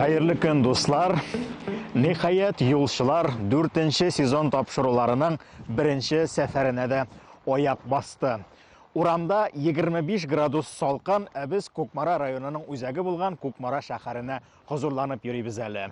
Хәерле көн, дуслар! Нихаят, юлчылар дүртенче сезон тапшыруларының беренче сәфәренә дә аяк басты. Урамда 25 градус салкын, ә без Кукмара районының үзәге булган Кукмара шәһәренә хозурланып йөрибез әле.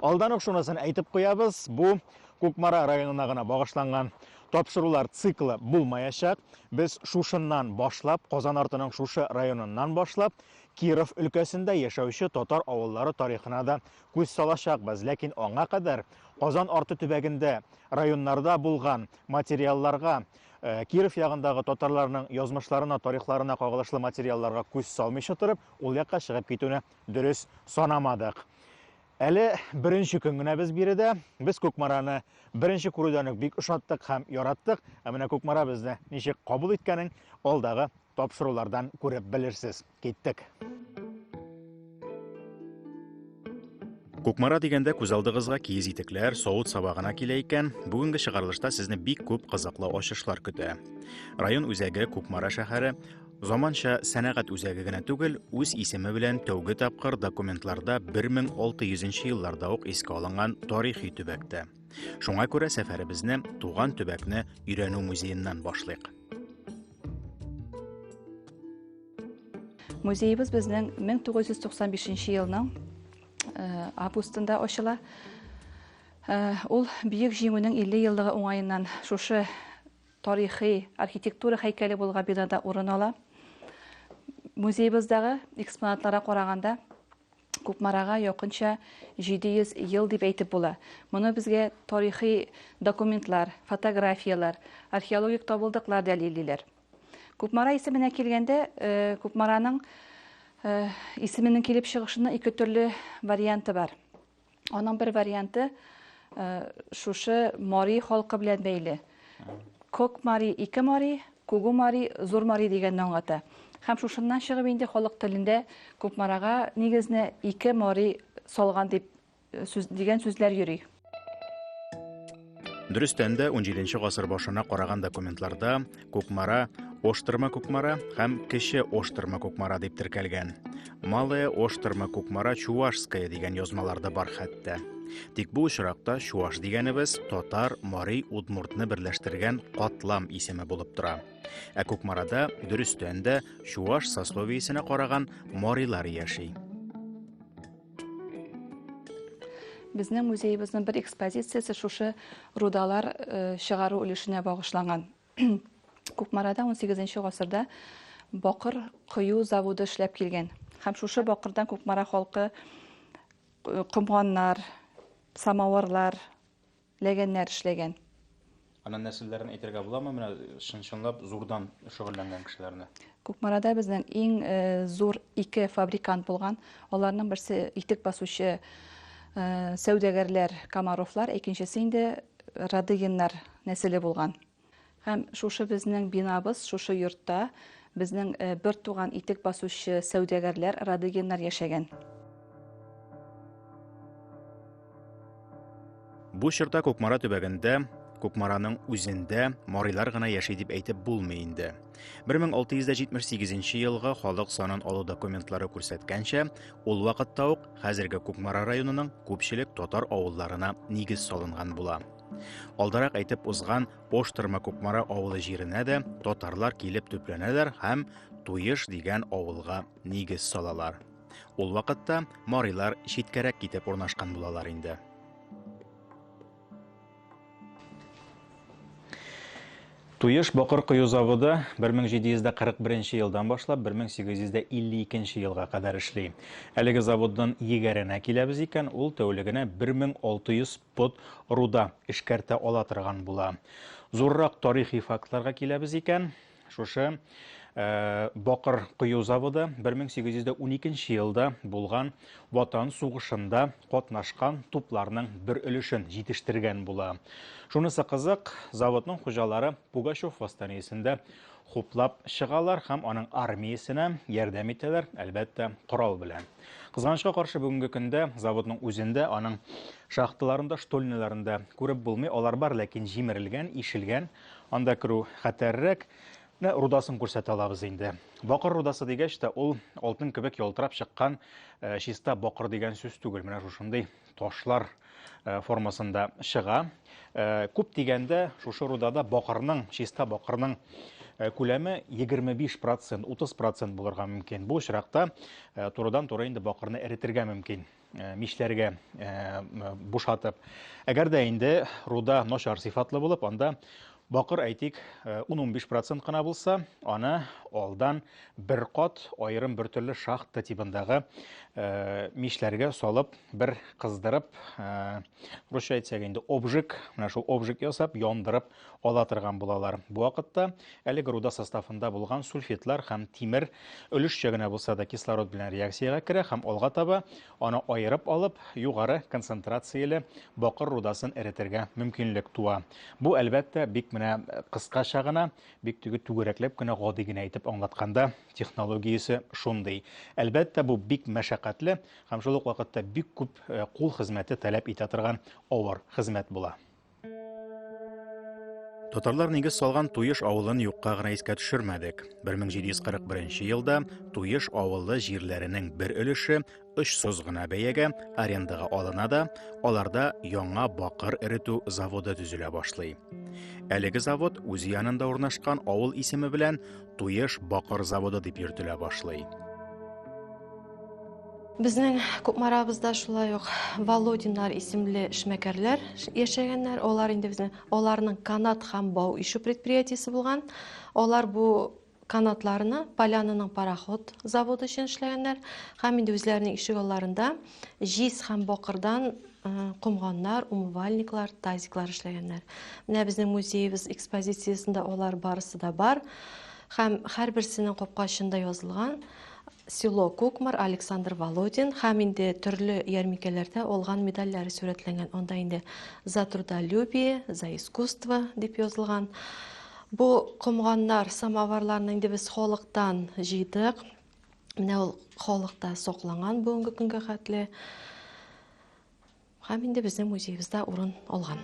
Алдан ук шунысын әйтеп куябыз, бу Кукмара районына гына багышланган тапшырулар циклы булмаячак. Без шушыннан башлап, Казан артының шушы районыннан башлап, Киров өлкәсендә яшәүче татар авыллары тарихына да күз салачакбыз. Ләкин аңа кадәр Казан арты төбәгендә районнарда булган материалларга э, Киров ягындагы татарларның язмышларына, тарихларына кагылышлы материалларга күз салмыйча торып, ул якка чыгып китүне дөрес санамадык. Әле беренче көн генә без биредә. Без Кукмараны беренче күрүдән үк бик ошаттык һәм яраттык. Ә менә Кукмара безне ничек кабул иткәнен алдагы тапшырулардан күреп белерсез. Киттек. Кукмара дигәндә күз алдыгызга киез итекләр, савыт саба гына килә икән, бүгенге чыгарылышта сезне бик күп кызыклы ачышлар көтә. Район үзәге Кукмара шәһәре Заманча сәнәгать үзәге генә түгел, үз исеме белән тәүге тапкыр документларда 1600 елларда ук искә алынган тарихи төбәктә. Шуңа күрә сәфәребезне туган төбәкне өйрәнү музееннан башлыйк. Музеебыз безнең 1995 елның э, августында ачыла. Э, ул Бөек Җиңүнең 50 еллыгы уңаеннан шушы тарихи архитектура һәйкәле булга бинада урын ала. Музеебыздагы экспонатлара караганда, Кукмарага якынча 700 ел дип әйтеп була. Моны безгә тарихи документлар, фотографияләр, археологик табылдыклар дәлиллиләр. Кукмара исеменә килгәндә, э, Кукмараның э, исеменең килеп чыгышының ике төрле варианты бар. Аның бер варианты э, шушы мари халкы белән бәйле. Кок мари, ике мари, күгү мари, зур мари дигәнне аңлата. Һәм шушыннан чыгып инде халык телендә Күкмарага нигезне ике мари салган дип э, сүз, дигән сүзләр йөри. Дөрестән дә, 17 гасыр башына караган документларда Кукмара, Оштырма Кукмара һәм Кече Оштырма Кукмара дип теркәлгән. Малая Оштырма Кукмара Чувашская дигән язмаларда бар хәтта. Тик бу очракта чуваш дигәнебез татар, мари, удмуртны берләштергән катлам исеме булып тора. Ә Кукмарада дөрестән дә чуваш сословиесенә караган марилар яши. Безнең музеебезнең бер экспозициясе шушы рудалар э, чыгару өлешенә багышланган. Кукмарада 18 гасырда бакыр кою заводы эшләп килгән. Һәм шушы бакырдан Кукмара халкы э, комганнар, самавырлар, ләгәннәр эшләгән. Аның нәселләрен әйтергә буламы, менә чын-чынлап зурдан шөгыльләнгән кешеләрне? Кукмарада безнең иң э, зур ике фабрикант булган. Аларның берсе итек басучы э, сәүдәгәрләр Комаровлар, икенчесе инде Радыгиннар нәселе булган. Һәм шушы безнең бинабыз, шушы йортта безнең бер туган итек басучы сәүдәгәрләр Радыгиннар яшәгән. Бу чорда Кукмара төбәгендә Кукмараның үзендә марилар гына яши дип әйтеп булмый инде. 1678 елга халык санын алу документлары күрсәткәнчә, ул вакытта ук хәзерге Кукмара районының күпчелек татар авылларына нигез салынган була. Алдарак әйтеп узган Поштырма Кукмара авылы җиренә дә татарлар килеп төпләнәләр һәм Туеш дигән авылга нигез салалар. Ул вакытта марилар читкәрәк китеп урнашкан булалар инде. Туеш бакыр кою заводы 1741 елдан башлап 1852 елга кадәр эшли. Әлеге заводдан егәренә киләбез икән, ул тәүлегенә 1600 Под руда эшкәртә ала торган була. Зуррак тарихи фактларга киләбез икән, шушы Э, бакыр кою заводы 1812 елда булган ватан сугышында катнашкан тупларның бер өлешен җитештергән була. Шунысы кызык, заводның хуҗалары Пугачев восстаниесендә хуплап чыгалар һәм аның армиясенә ярдәм итәләр, әлбәттә, корал белән. Кызганычка каршы бүгенге көндә заводның үзендә, аның шахталарында, штольняларында күреп булмый. Алар бар, ләкин җимерелгән, ишелгән. Анда керү хәтәррәк. Менә рудасын күрсәтә алабыз инде. Бакыр рудасы дигәч тә, ул алтын кебек ялтырап чыккан э, чиста бакыр дигән сүз түгел. Менә шушындый ташлар э, формасында чыга. Э, күп дигәндә шушы рудада бакырның, чиста бакырның э, күләме 25 процент, 30 процент булырга мөмкин. Бу очракта э, турыдан туры инде бакырны эретергә мөмкин мишләргә бушатып. Әгәр дә инде руда начар сыйфатлы булып, анда Бакыр, әйтик, ун-унбиш процент кына булса, аны алдан бер кат аерым бер төрле шахта тибындагы мишләргә салып, бер кыздырып, русча әйтсәк инде обжиг, менә шул обжиг ясап, яндырып ала торган булалар. Бу вакытта әлеге руда составында булган сульфидлар һәм тимер өлешчә генә булса да кислород белән реакциягә керә һәм алга таба Аны аерып алып, югары концентрацияле бакыр рудасын эретергә мөмкинлек туа. Бу, әлбәттә, бик менә кыскача гына, бик теге түгәрәкләп кенә, гади генә итеп аңлатканда, технологиясе шундый. Әлбәттә, бу бик мәшәкатьле һәм шул ук вакытта бик күп кул хезмәте таләп итә торган авыр хезмәт була. Татарлар нигез салган Туеш авылын юкка гына искә төшермәдек. 1741 елда Туеш авылы җирләренең бер өлеше очсыз гына бәягә арендага алына да, аларда яңа бакыр эретү заводы төзелә башлый. Әлеге завод үз янында урнашкан авыл исеме белән Туеш бакыр заводы дип йөртелә башлый. Безнең Кукмарабызда шулай ук Володиннар исемле эшмәкәрләр яшәгәннәр. Алар инде безнең аларның канат һәм бау ишу предприятиесе булган. Алар бу канатларны Полянаның пароход заводы өчен эшләгәннәр һәм инде үзләренең ишек алларында җиз һәм бакырдан комганнар, умывальниклар, тазиклар эшләгәннәр. Менә безнең музеебез экспозициясендә алар барысы да бар һәм һәрберсенең капкачында язылган Село Кукмар, Александр Володин һәм инде төрле ярминкәләрдә алган медальләре сурәтләнгән. Анда инде За трудолюбие, За искусство дип язылган. Бу комганнар, самоварларны инде без халыктан җыйдык. Менә ул халыкта сакланган бүгенге көнгә хәтле. Һәм инде безнең музеебызда урын алган.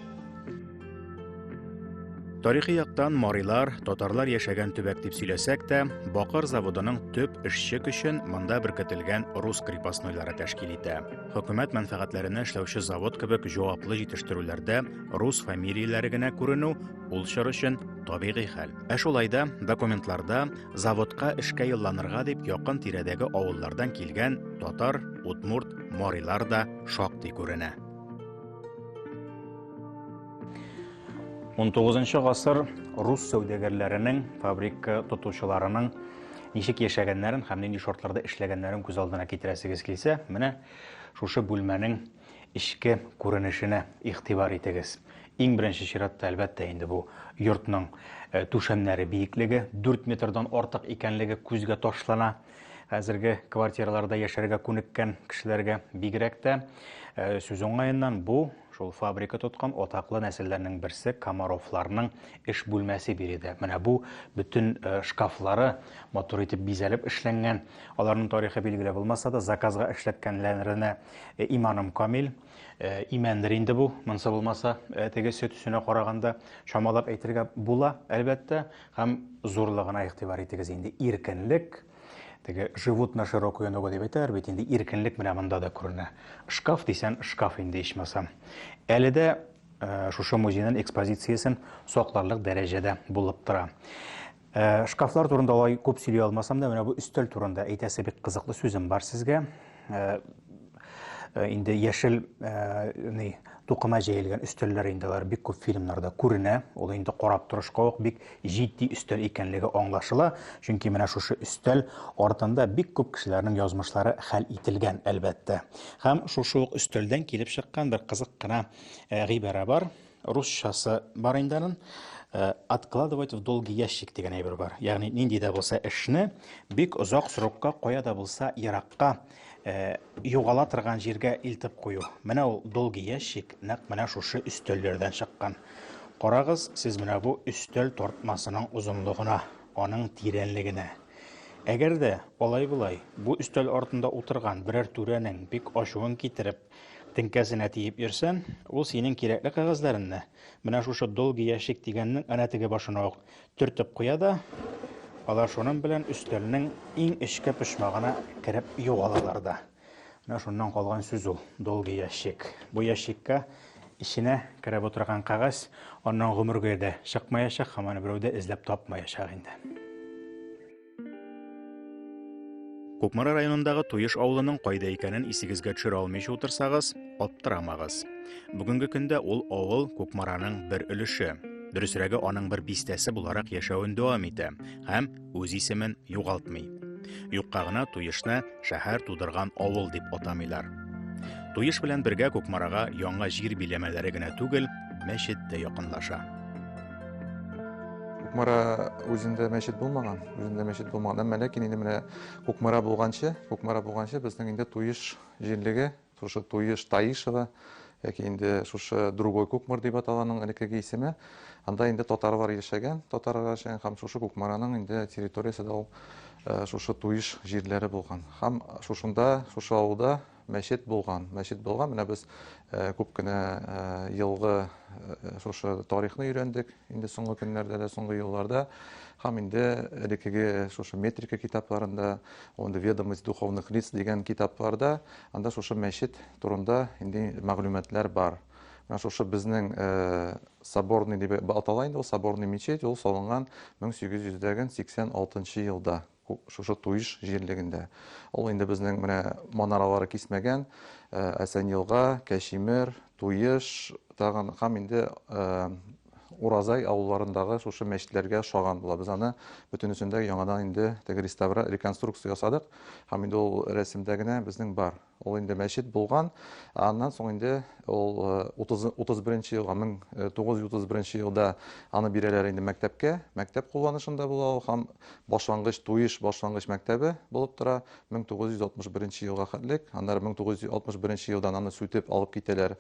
Тарихи яктан марилар, татарлар яшәгән төбәк дип сөйләсәк тә, Бакыр заводының төп эшче көчен монда беркетелгән рус крепостнойлары тәшкил итә. Хөкүмәт мәнфәгатьләренә эшләүче завод кебек җаваплы җитештерүләрдә рус фамилияләре генә күренү ул чор өчен табигый хәл. Ә шулай да документларда заводка эшкә юлланырга дип якын тирәдәге авыллардан килгән татар, удмурт, марилар да шактый күренә. 19 гасыр рус сәүдәгәрләренең, фабрика тотучыларының ничек яшәгәннәрен һәм нинди шартларда эшләгәннәрен күз алдына китерәсегез килсә, менә шушы бүлмәнең эчке күренешенә игътибар итегез. Иң беренче чиратта, әлбәттә, инде бу йортның э, түшәмнәре биеклеге 4 метрдан артык икәнлеге күзгә ташлана. Хәзерге квартираларда яшәргә күнеккән кешеләргә бигрәк тә э, сүз уңаеннан бу шул фабрика тоткан атаклы нәселләрнең берсе Комаровларның эш бүлмәсе биредә. Менә бу бөтен э, шкафлары матур итеп бизәлеп эшләнгән. Аларның тарихы билгеле булмаса да, заказга эшләткәнләренә э, иманым камил. Имәндер инде бу, монсы булмаса, теге сөт өсенә караганда чамалап әйтергә була, әлбәттә. Һәм зурлыгына игътибар итегез инде, иркенлек, теге живут на широкую ногу дип әйтәләр бит, инде иркенлек менә монда да күренә. Шкаф дисән, шкаф инде ичмасам. Әле дә э, шушы музейның экспозициясен сакларлык дәрәҗәдә булып тора. Э, шкафлар турында алай күп сөйли алмасам да, менә бу өстәл турында әйтәсе бик кызыклы сүзем бар сезгә. инде яшел ни тукыма җәелгән өстәлләр инде алар бик күп фильмнарда күренә. Ул инде карап торышка ук бик җитди өстәл икәнлеге аңлашыла. Чөнки менә шушы өстәл артында бик күп кешеләрнең язмышлары хәл ителгән, әлбәттә. Һәм шушы ук өстәлдән килеп чыккан бер кызык кына гыйбарә бар. Русчасы бар инде аның. Э, откладывать в долгий ящик дигән әйбер бар. Ягъни нинди дә булса эшне бик озак срокка, кая да булса еракка э, югала торган җиргә илтеп кую. Менә ул долгий ящик нәкъ менә шушы өстәлләрдән чыккан. Карагыз, сез менә бу өстәл тартмасының озынлыгына, аның тирәнлегенә. Әгәр дә алай-болай бу өстәл артында утырган берәр түрәнең бик ачуын китереп, Теңкәсенә тиеп йөрсәм, ул синең кирәкле кәгазьләреңне менә шушы долгий ящик дигәннең әнә теге башына ук төртеп куя да, алар шуның белән өстәлнең иң эчке почмагына кереп югалалар да. Менә шуннан калган сүз ул, долгий ящик. Бу ящикка эченә кереп утырган кәгазь аннан гомергә дә чыкмаячак һәм аны берәү дә эзләп тапмаячак инде. Кукмара районындагы Туеш авылының кайда икәнен исегезгә төшерә алмыйча утырсагыз, аптырамагыз. Бүгенге көндә ул авыл Кукмараның бер өлеше, дөресрәге аның бер бистәсе буларак яшәвен дәвам итә һәм үз исемен югалтмый. Юкка гына Туешны шәһәр тудырган авыл дип атамыйлар. Туеш белән бергә Кукмарага яңа җир биләмәләре генә түгел, мәчет тә якынлаша. Кукмара үзендә мәчет булмаган, үзендә мәчет булмаган. Әмма ләкин инде менә Кукмара булганчы, Кукмара булганчы безнең инде Туеш җирлеге, шушы Туеш Таишева яки инде шушы Другой Кукмар дип аталаның элеккеге исеме, анда инде татарлар яшәгән, татарлар яшәгән һәм шушы Кукмараның инде территориясе дә ул э, шушы Туеш җирләре булган. Һәм шушында, шушы авылда Мәчет булган, мәчет булган. Менә без күп кенә елгы шушы тарихны өйрәндек. Инде соңгы көннәрдә дә, соңгы елларда һәм инде элеккеге шушы метрика китапларында, онда ведомость духовных лиц дигән китапларда анда шушы мәчет турында инде мәгълүматлар бар. Менә шушы безнең соборный дип атала инде ул соборный мечеть, ул салынган 1886 елда. Шушы Туйш җирлегендә. Ул инде безнең менә манаралары кисмәгән Әсәньелга, Кәчимер, Туйш тагын һәм инде Уразай авылларындагы шушы мәчетләргә ошаган була. Без аны бөтенесен дә яңадан инде теге реставра, реконструкция ясадык һәм инде ул рәсемдә генә безнең бар. Ул инде мәчет булган. Аннан соң инде ул 31 елга 1931 елда аны бирәләр инде мәктәпкә. Мәктәп кулланышында була ул һәм башлангыч Туеш башлангыч мәктәбе булып тора 1961 елга хәтлек. Аннары 1961 елдан аны сүтеп алып китәләр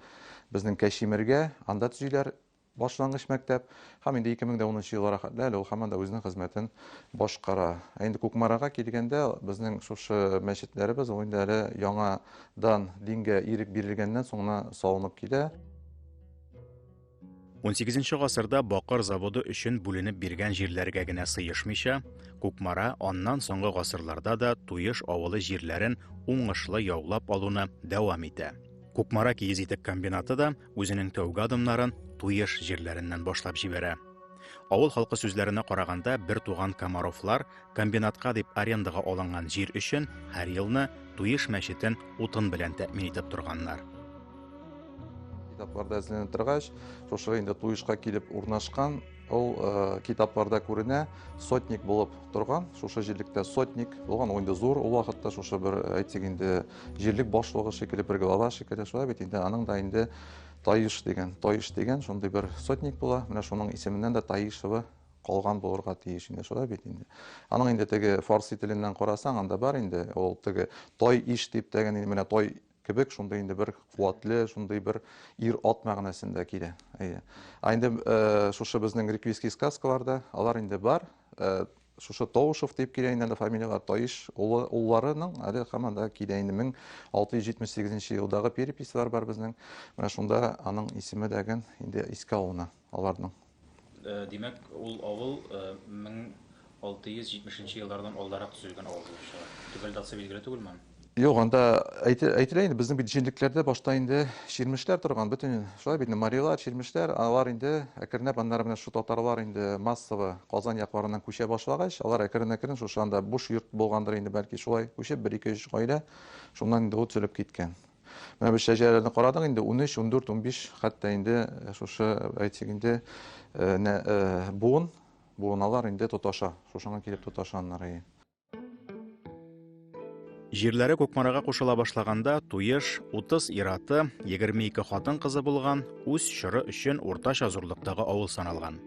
безнең Кәшимергә, анда төзиләр Башлангыч мәктәп һәм инде 2010 елларга хәтле әле ул һаман да үзенең хезмәтен башкара. Ә инде Кукмарага килгәндә, безнең шушы мәчетләребез, ул инде әле яңадан дингә ирек бирелгәннән соң гына салынып килә. Унсигезенче гасырда бакыр заводы өчен бүленеп биргән җирләргә генә сыешмыйча, Кукмара аннан соңгы гасырларда да Туеш авылы җирләрен уңышлы яулап алуны дәвам итә. Кукмара киез итек комбинаты да Үзенең тәүге адымнарын Туеш җирләреннән башлап җибәрә. Авыл халкы сүзләренә караганда, бер туган Комаровлар комбинатка дип арендага алынган җир өчен һәр елны Туеш мәчетен утын белән тәэмин итеп торганнар. Китапларда эзләнә торгач, шушы инде Туешка килеп урнашкан Ул э, китапларда күренә, сотник булып торган, шушы җирлектә сотник булган, ул инде зур ул вакытта шушы бер э, әйтик инде җирлек башлыгы шикелле, бер глава шикелле, шулай бит инде аның да инде Таиш деген, Таиш деген шундый бер сотник була, менә шуның исеменнән дә Таишева калган булырга тиеш инде, шулай бит инде. Аның инде теге фарси теленнән карасаң, анда бар инде, ул теге Той иш дип тәген, менә Той кебек шундый инде бер куатле шундый бер ир ат мәгънәсендә килә әйе а инде э, шушы безнең реквийский сказкаларда алар инде бар э, шушы Таушев дип килә инде әле фамилиялар Таиш улы улларының әле һаман да килә инде 1678 елдагы переписьлар бар безнең. Менә шунда аның исеме дәген инде искә алына. аларның. Димәк, ул авыл 1670 нче еллардан алдарак төзелгән авыл булып чыга. Төгәл датасы билгеле түгелме аның? Юк, анда әйтелә инде, безнең бит җенлекләрдә башта инде чирмешләр торган, бөтен шулай бит инде, марилар, чирмешләр, алар инде әкренләп, аннары менә шушы татарлар инде массово Казан якларыннан күчә башлагач, алар әкрен-әкрен шушы анда буш йорт булгандыр инде, бәлки шулай күчеп, бер-ике-өч гаилә шуннан инде ул төзелеп киткән. Менә без шәҗәрәләрне карадык инде, 13, 14, 15, хәтта инде э, шушы, э, әйтсәк инде, э, буын, буыналар инде тоташа. Шушыңа килеп тоташа аннары. Җирләре Кукмарага кушыла башлаганда Туеш 30 ираты, 22 хатын кызы булган, үз чоры өчен уртача зурлыктагы авыл саналган.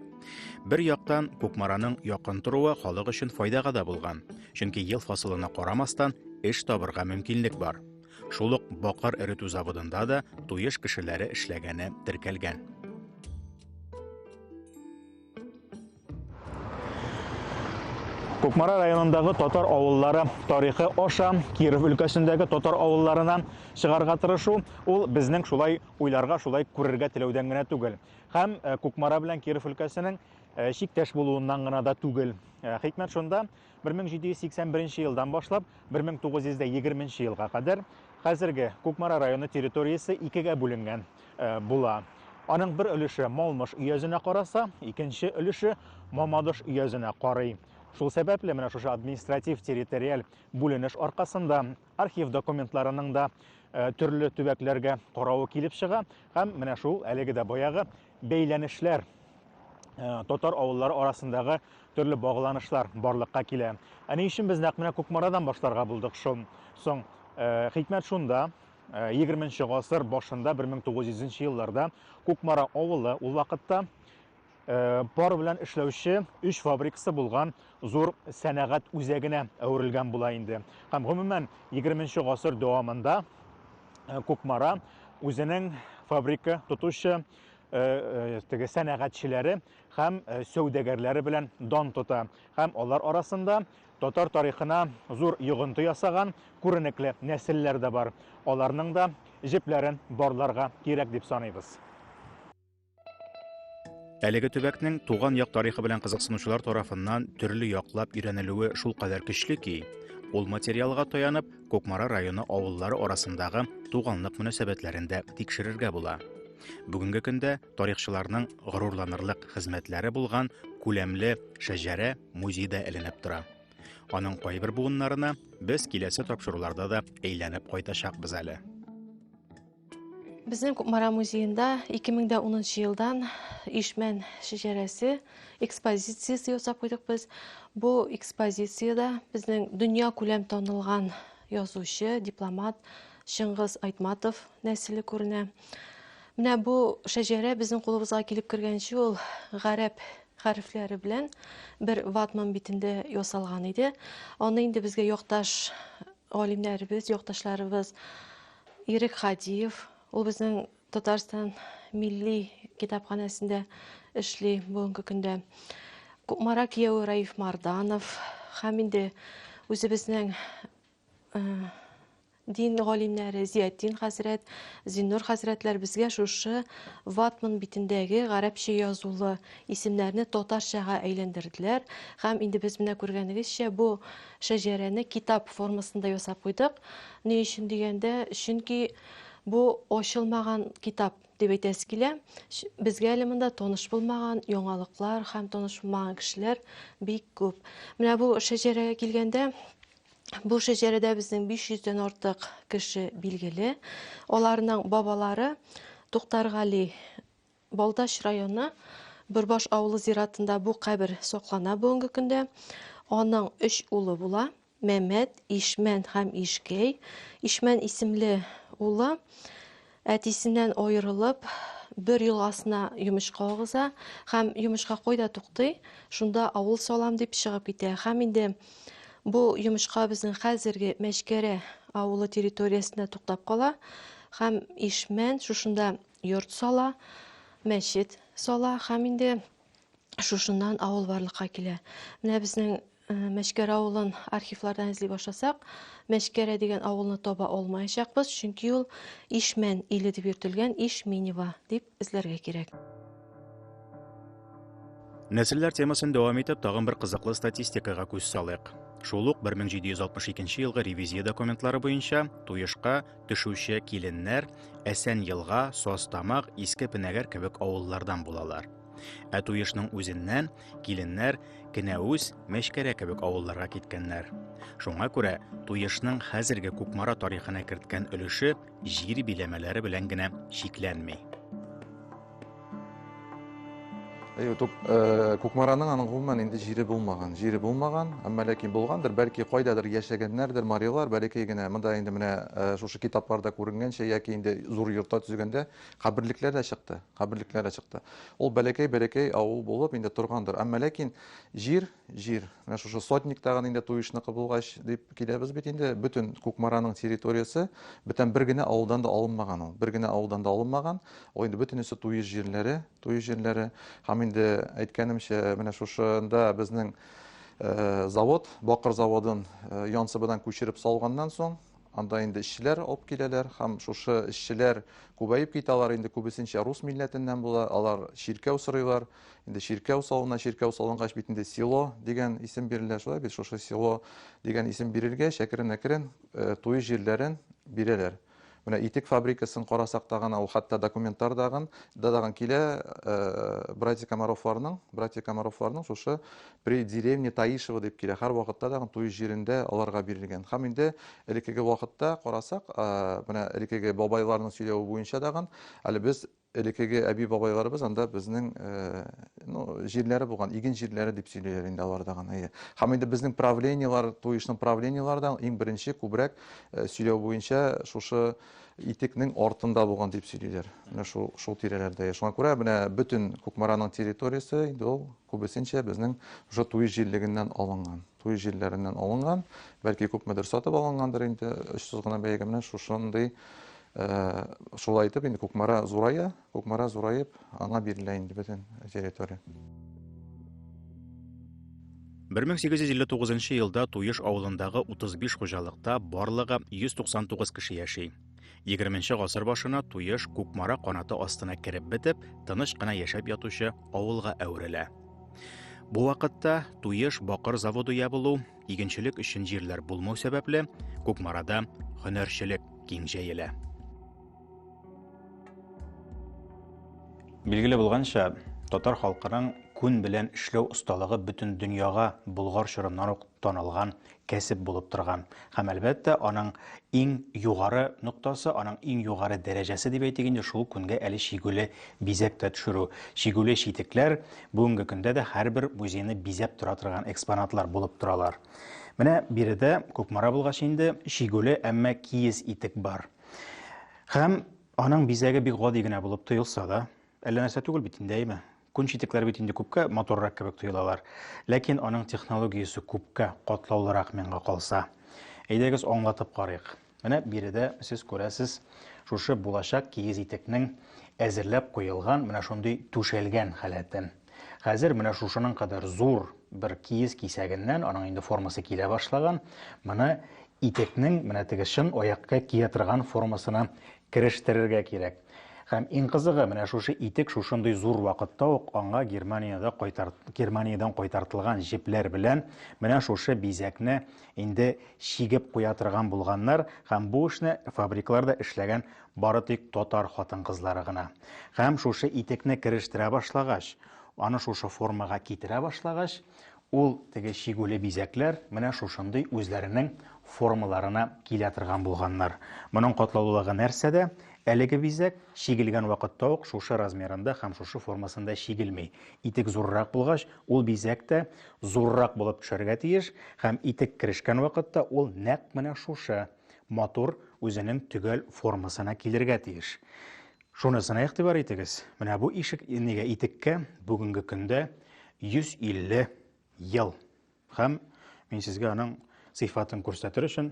Бер яктан Кукмараның якын торуы халык өчен файдага да булган, чөнки ел фасылына карамастан эш табырга мөмкинлек бар. Шул ук бакыр эретү заводында да туеш кешеләре эшләгәне теркәлгән. Кукмара районындагы татар авыллары тарихы аша Киров өлкәсендәге татар авылларына чыгарга тырышу, ул безнең шулай уйларга, шулай күрергә теләүдән генә түгел. Һәм э, Кукмара белән Киров өлкәсенең э, чиктәш булуыннан гына да түгел. Э, хикмәт шунда, 1781 нче елдан башлап 1920 нче елга кадәр хәзерге Кукмара районы территориясе икегә бүленгән э, була. Аның бер өлеше Малмыш өязенә караса, икенче өлеше Мамадыш өязенә карый. Шул сәбәпле менә шушы административ территориаль бүленеш аркасында архив документларының да э, төрле төбәкләргә каравы килеп чыга һәм менә шул әлеге дә баягы бәйләнешләр э, татар авыллары арасындагы төрле багланышлар барлыкка килә. Ә ни өчен без нәкъ менә Кукмарадан башларга булдык шул? Соң э, хикмәт шунда, 20 нче гасыр башында 1900 елларда Кукмара авылы ул вакытта Э, пар белән эшләүче өч фабрикасы булган зур сәнәгать үзәгенә әверелгән була инде һәм гомумән 20 гасыр дәвамында э, Кукмара үзенең фабрика тотучы э, теге сәнәгатьчеләре һәм сәүдәгәрләре белән дан тота һәм алар арасында татар тарихына зур йогынты ясаган күренекле нәселләр дә бар аларның да җепләрен барларга кирәк дип саныйбыз Әлеге төбәкнең туган як тарихы белән кызыксынучылар тарафыннан төрле яклап өйрәнелүе шул кадәр көчле ки, ул материалга таянып, Кукмара районы авыллары арасындагы туганлык мөнәсәбәтләрен дә тикшерергә була. Бүгенге көндә тарихчыларның горурланырлык хезмәтләре булган күләмле шәҗәрә музейда эленеп тора. Аның кайбер буыннарына без киләсе тапшыруларда да әйләнеп кайтачакбыз әле. Безнең Кукмара музеенда 2010 елдан Ишмән шәҗәрәсе экспозициясе ясап куйдык без. Бу экспозициядә безнең дөнья күләм танылган язучы, дипломат Чыңгыз Айтматов нәселе күренә. Менә бу шәҗәрә безнең кулыбызга килеп кергәнче ул гарәп хәрефләре белән бер ватман битендә ясалган иде. Аны инде безгә якташ галимнәребез, якташларыбыз Ирек Хадиев, ул безнең Татарстан милли китапханәсендә эшли бүгенге көндә. Кукмара кияүе Раиф Марданов һәм инде үзебезнең э, дин галимнәре Зиятдин хәзрәт, Зиннур хәзрәтләр безгә шушы ватман битендәге гарәпчә язулы исемнәрне татарчага әйләндерделәр һәм инде без менә күргәнегезчә бу Шәҗәрәне китап формасында ясап куйдык. Ни өчен дигәндә, чөнки бу ачылмаган китап дип әйтәсе килә. Безгә әле монда таныш булмаган яңалыклар һәм таныш булмаган кешеләр бик күп. Менә бу шәҗәрәгә килгәндә, бу шәҗәрәдә безнең 500 дән артык кеше билгеле. Аларның бабалары Туктаргали Балтач районы Бөрбаш авылы зиратында бу кабер саклана бүгенге көндә. Аның өч улы була. Мәмәт, Ишмән һәм Ишкәй. Ишмән исемле улы әтисеннән аерылып, бер елгасына йомычка агыза һәм йомычка койда туктый, шунда авыл салам дип чыгып китә. Һәм инде бу йомычка безнең хәзерге Мәчкәрә авылы территориясендә туктап кала һәм Ишмән шушында йорт сала, мәчет сала һәм инде шушыннан авыл барлыкка килә. Менә безнең э, Мәшкәр авылын архивлардан эзли башласак, Мәшкәрә дигән авылны таба алмаячакбыз, чөнки ул Ишмән иле дип йөртелгән Ишминева дип эзләргә кирәк. Нәселләр темасын дәвам итеп, тагын бер кызыклы статистикага күз салыйк. Шул ук 1762 елгы ревизия документлары буенча Туешка төшүче киленнәр Әсән елга, Состамак, Иске Пенәгәр кебек авыллардан булалар. Ә туешның үзеннән киленнәр Кенәүз, Мәчкәрә кебек авылларга киткәннәр. Шуңа күрә туешның хәзерге Кукмара тарихына керткән өлеше җир биләмәләре белән генә чикләнми. Кукмараның аның гомумән инде җире булмаган. Җире булмаган, әмма ләкин булгандыр, бәлки кайдадыр яшәгәннәрдер марилар, бәләкәй генә. Монда инде менә шушы китапларда күренгәнчә яки инде зур йортта төзегәндә каберлекләр дә чыкты. Каберлекләр дә чыкты. Ул бәләкәй-бәләкәй авыл булып инде торгандыр. Әмма ләкин җир җир, менә шушы сотник тагын инде туешныкы булгач дип киләбез бит инде, бөтен Кукмараның территориясе, бүтән бер генә авылдан да алынмаган ул, бер генә авылдан да алынмаган, ул инде бөтенесе туеш җирләре, туеш җирләре, һәм инде әйткәнемчә, менә шушында безнең э, завод, бакыр заводын э, янсыбыдан күчереп салганнан соң, Анда инде эшчеләр алып киләләр һәм шушы эшчеләр күбәеп китә, алар инде күбесенчә рус милләтеннән була, алар чиркәү сорыйлар. Инде чиркәү салына, чиркәү салынгач бит инде село дигән исем бирелә, шулай бит шушы село дигән исем бирелгәч, әкрен-әкрен э, туй җирләрен бирәләр. Менә итек фабрикасын карасак та гына, ул хәтта документлар дагын, да дагын килә э, братья Комаровларның, братья Комаровларның шушы При деревне Таишево дип килә. Һәрвакытта да туй җирендә аларга бирелгән. Һәм инде элеккеге вакытта карасак, менә элеккеге бабайларның сөйләве буенча дагын, әле без элеккеге әби-бабайларыбыз анда безнең ну, җирләре булган, иген җирләре дип сөйлиләр инде алар дагын. Әйе. Һәм инде безнең правлениелар, туй эшнең правлениелары да иң беренче күбрәк сөйләү буенча шушы итекнең артында булган дип сөйлиләр. Менә шул шул тирәләрдә. Шуңа күрә менә бөтен Кукмараның территориясе инде ул Күбесенчә безнең уже туй җиллегеннән алынган. Туй җилләреннән алынган, бәлки күпмедер сатып алынгандыр инде, очсыз гына бәягә менә шушындый шулай итеп инде Кукмара зурая, Кукмара зураеп, аңа бирелә инде бөтен территория. 1859 елда Туеш авылындагы 35 хуҗалыкта барлыгы 199 кеше яши. 20 гасыр башына Туеш Кукмара канаты астына кереп бетеп, тыныч кына яшәп ятучы авылга әверелә. Бу вакытта Туеш бакыр заводы ябылу, игенчелек өчен җирләр булмау сәбәпле, Кукмарада һөнәрчелек киң җәелә. Билгеле булганча, татар халкының күн белән эшләү осталыгы бөтен дөньяга Болгар чорыннан ук танылган кәсеп булып торган һәм әлбәттә аның иң югары ноктасы аның иң югары дәрәҗәсе дип әйтик инде шул күнгә әле чигүле бизәк тә төшерү чигүле читекләр бүгенге көндә дә һәрбер музейны бизәп тора торган экспонатлар булып торалар менә биредә кукмара булгач инде чигүле әмма киез итек бар һәм аның бизәге бик гади генә булып тоелса да әллә нәрсә түгел бит инде әйме Күн читекләр бит инде күпкә матуррак кебек тоелалар. Ләкин аның технологиясе күпкә катлаулырак миңа калса. Әйдәгез аңлатып карыйк. Менә биредә сез күрәсез, шушы булачак кигез итекнең әзерләп куелган менә шундый түшәлгән халәтен. Хәзер менә шушының кадәр зур бер киез кисәгеннән, аның инде формасы килә башлаган, моны итекнең менә теге чын аякка кия торган формасына керештерергә кирәк. Һәм иң кызыгы, менә шушы итек шушындый зур вакытта ук аңа Германиядә кайтар, Германиядән кайтартылган җепләр белән менә шушы бизәкне инде чигеп куя торган булганнар, һәм бу эшне фабрикларда эшләгән бары тик татар хатын-кызлары гына. Һәм шушы итекне керештерә башлагач, аны шушы формага китерә башлагач, Ул теге чигүле бизәкләр менә шушындый үзләренең формаларына килә торган булганнар. Моның катлаулылыгы нәрсәдә? Әлеге бизәк чигелгән вакытта ук шушы размерында һәм шушы формасында чигелми. Итек зуррак булгач, ул бизәк тә зуррак булып төшәргә тиеш һәм итек керешкән вакытта ул нәкъ менә шушы матур үзенең төгәл формасына килергә тиеш. Шунысына игътибар итегез, менә бу ишек нигә итеккә бүгенге көндә 150 ел. Һәм мин сезгә аның сыйфатын күрсәтер өчен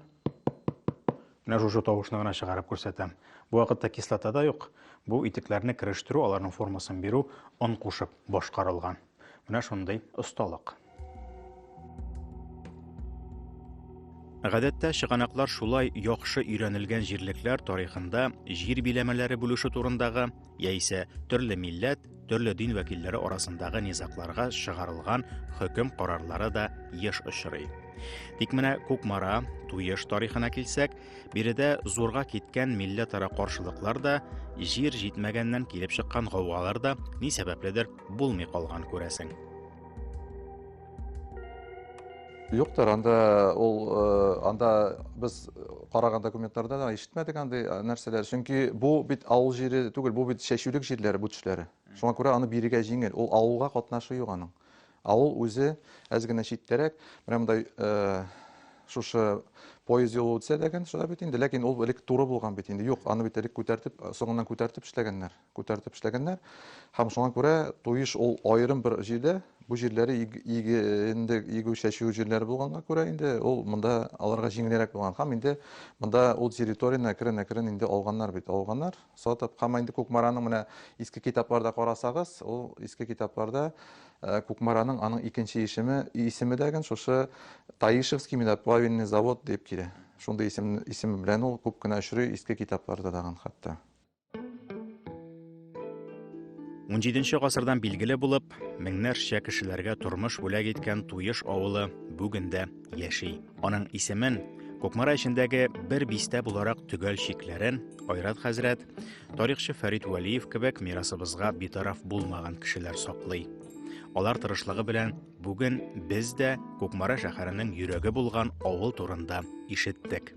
менә шушы тавышны гына чыгарып күрсәтәм. Бу вакытта кислота да юк. Бу итекләрне керештерү, аларның формасын бирү он кушып башкарылган. Менә шундый осталык. Гадәттә чыганаклар шулай яхшы өйрәнелгән җирлекләр тарихында җир биләмәләре бүлеше турындагы яисә төрле милләт, төрле дин вәкилләре арасындагы низакларга чыгарылган хөкем карарлары да еш очрый. Тик менә Кукмара, Туеш тарихына килсәк, биредә зурга киткән милләтара каршылыклар да, җир җитмәгәннән килеп чыккан гаугалар да ни сәбәпледер булмый калган күрәсең. Юктыр, анда ул э, анда без караган документларда да ишетмәдек андый э, нәрсәләр. Чөнки бу бит авыл җире түгел, бу бит чәчүлек җирләре бу төшләре. Шуңа күрә аны бирергә җиңел. Ул авылга катнашы юк аның. Авыл үзе әз генә читтәрәк, менә мондай э, шушы поезд юлы үтсә ләкин шулай бит инде, ләкин ул элек туры булган бит инде. Юк, аны бит элек күтәртеп, соңыннан күтәртеп эшләгәннәр. күтәртеп эшләгәннәр. Һәм шуңа күрә Туеш ул аерым бер җирдә, бу җирләре иге инде игү чәчү җирләре булганга күрә инде ул монда аларга җиңелрәк булган. Һәм инде монда ул территорияне әкрен-әкрен инде алганнар бит, алганнар, сатып. Һәм инде Кукмараның менә иске китапларда карасагыз, ул иске китапларда э, Кукмараның аның икенче ишеме, исеме дә шушы Таишевский медоплавильный завод дип килә. Шундый исем, исем белән ул күп кенә очрый иске китапларда дагын хәтта. 17 гасырдан билгеле булып, меңнәрчә кешеләргә тормыш бүләк иткән Туеш авылы бүген дә яши. Аның исемен Кукмара эчендәге бер бистә буларак төгәл чикләрен Айрат хәзрәт, тарихчы Фәрит Вәлиев кебек мирасыбызга битараф булмаган кешеләр саклый. Алар тырышлыгы белән бүген без дә Кукмара шәһәренең йөрәге булган авыл турында ишеттек.